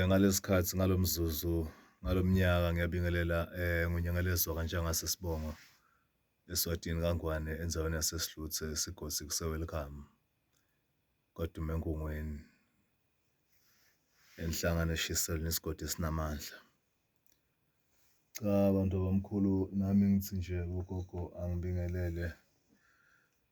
Ngalesikhathi ngalomzuzu ngalomnyaka ngiyabingelela ngunyangelezwa kaNtshangase Sibonga eSwatini kaNgwane endaweni yaseSluthe eSigodi kuse-welcome kwaDume eNkungwini enhlangano eshiselwe isigodi esinamandla. Cha bantu abamkhulu nami ngithi nje ugogo angibingelele.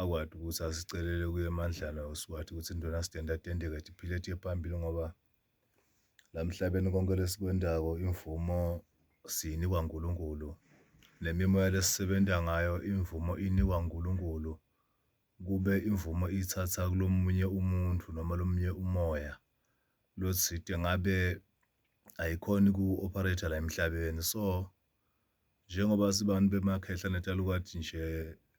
akwati ukuthi asicelele kuye emandlana oSikwati ukuthi intwana sidenda dende kade iphile ethe phambili ngoba la mhlabeni konke lesikwendako imvumo siyinikwa uNkulunkulu nemimoya lesisebenza ngayo imvumo inikwa uNkulunkulu. Kube imvumo iyithatha kulomunye umuntu noma lomunye umoya lo ngabe ayikhoni ku-operate-a la emhlabeni so. Njengoba sibantu bemakhehla netalukathi nje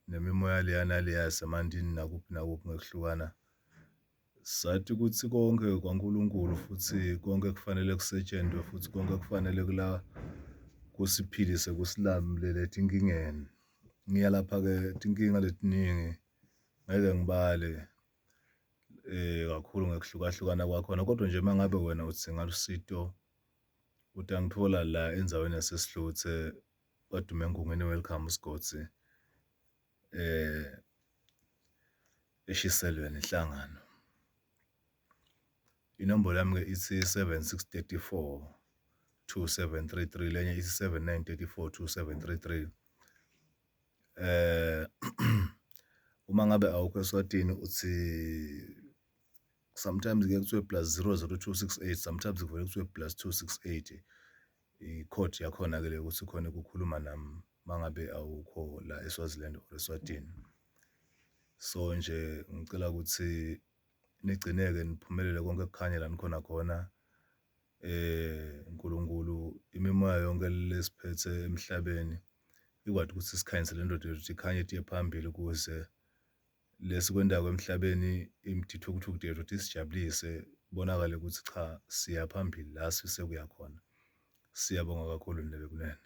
nemimoya leya naleya yasemantini nakuphi nakuphi ngokuhlukana, sathi ukuthi konke kwaNkulunkulu futhi konke kufanele kusetshenzwe futhi konke kufanele kula kusiphilise kusilamulele etinkingeni. Ngiyalapha-ke tinkinga letiningi ngeke ngibale kakhulu ngokuhlukahlukana kwakhona kodwa nje uma ngabe wena udzinga lusito. Uthi angithola la endaweni yaseSlotse kwaDuma engongeni welcome uSgotsi eshiselwe nenhlangano. Inombolo yami-ke ithi seven six thirty four two seven three three le enye ithi seven nine thirty four two seven three three. Uma ngabe awukho eSwatini uthi. sometimes kuye kuthiwe plus 00268 sometimes kuvele kuthiwe plus 268 i-code yakhona-ke le ukuthi khona kukhuluma nami mangabe awukho la eSwaziland or eSwatini so nje ngicela ukuthi nigcineke niphumelele konke kukhanye la nikhona khona eh uNkulunkulu imimoya yonke lesiphethe emhlabeni ikwathi ukuthi sikhanyise le ndoda yokuthi ikhanye tiye phambili ukuze lesi kwenda kwemhlabeni imithithukuthuku yethu ukuthi sijabulise kubonakale ukuthi cha siya phambili la sifise kuya khona siyabonga kakhulu ndebe kunene